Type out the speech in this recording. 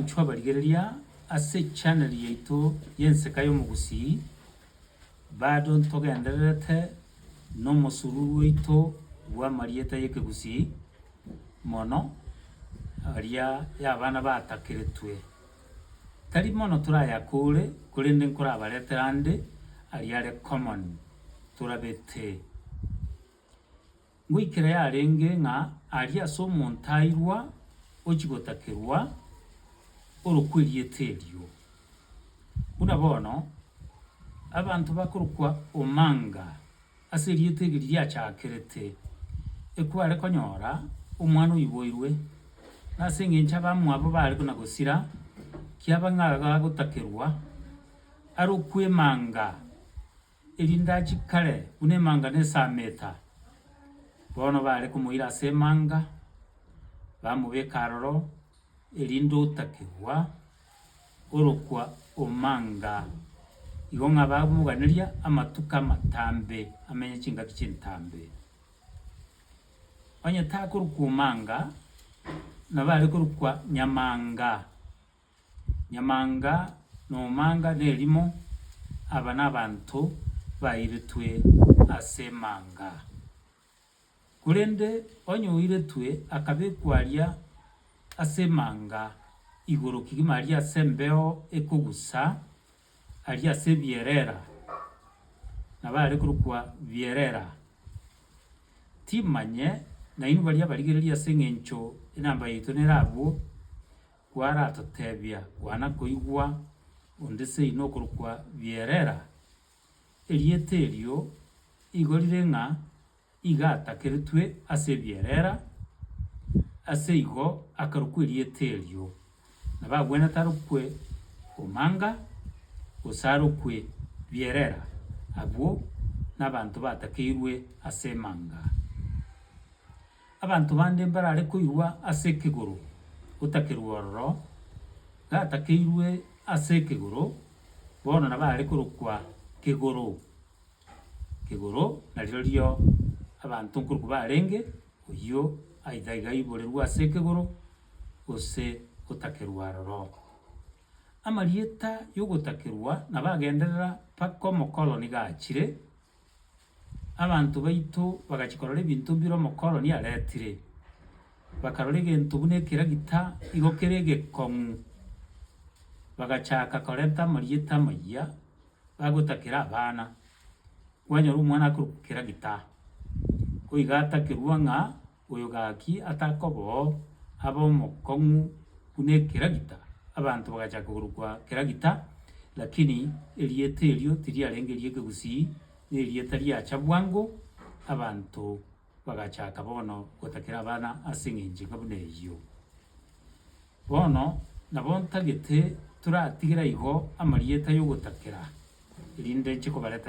Inchuo abarigereria ase channel yaito y'enseka y'omogusii, bado ntogendererete nomosururu oito bw'amarieta y'ekegusii mono aria y'abana batakeretwe. Tari mono torayakore korende nkorabaretere ande aria are common torabete. Ngoikera yarenge ng'a aria ase omontairwa ochigotakerwa orokwa erieta erio. Buna bono abanto bakorokwa Omanga ase erieta eri riachakerete, ekware konyora omwana oiboirwe, na ase engencho abamwabo bare buna gosira, kiaba ng'a agagotakerwa arokwe Emanga. Erindachi kare buna emanga na esameta, bono bare komoira ase emanga, bamobeka aroro, erinde otakigwa orokwa omanga. Igo ng'a bamoganeria amatuko amatambe, amenye chingaki chintambe. Onye takorokwa omanga, nabo arekorokwa nyamanga. Nyamanga nomanga nerimo, aba nabanto bairetwe ase manga. Korende onye oiretwe akabekwa aria ase manga igoro kegima aria ase embeo ekogusa, aria ase ebierera, nabo are korokwa bierera, timanye nainwe baria abarigereria ase engencho enamba yaito nere abwo, Kwaratotebia kwana koigwa onde seino okorokwa Bierera, erieta erio igo rire ng'a igatakeretwe ase Bierera, aseigo akarokwa erieta erio. Nabagwenerete arokwe Omanga, gose arokwe Bierera, abwo nabanto batakeirwe ase Emanga. Abanto bande mbarare koigwa ase ekegoro gotakerwa ororo gatakeirwe ase ekegoro, bono nabarare korokwa Kegoro, Kegoro, na rirorio abanto nkorokwa barenge, oyio aitha iga aiborerwe ase ekegoro, gose gotakerwa aroro. Amarieta yogotakerwa nabo agenderera mpaka omokoroni gachire. Abanto baito bagachia korora ebinto mbire omokoroni aretire, bakarora egento buna ekeragita igo kere egekong'u, bagachaka korenta amarieta amayia bagotakera abana, kwanyora omwana akorokwa keragita, ko iga atakerwa ng'a. Oyo gaki atakobao abe omokong'u buna ekeragita, abanto bagachaka korokwa keragita, lakini erieta erio tiriarenge ri'ekegusii, nerieta riacha bwango, abanto bagachaka bono gotakera abana ase eng'encho enga buna eyio. Bono nabo ntagete toratigere igo amarieta yogotakera, erinde nche kobaretera.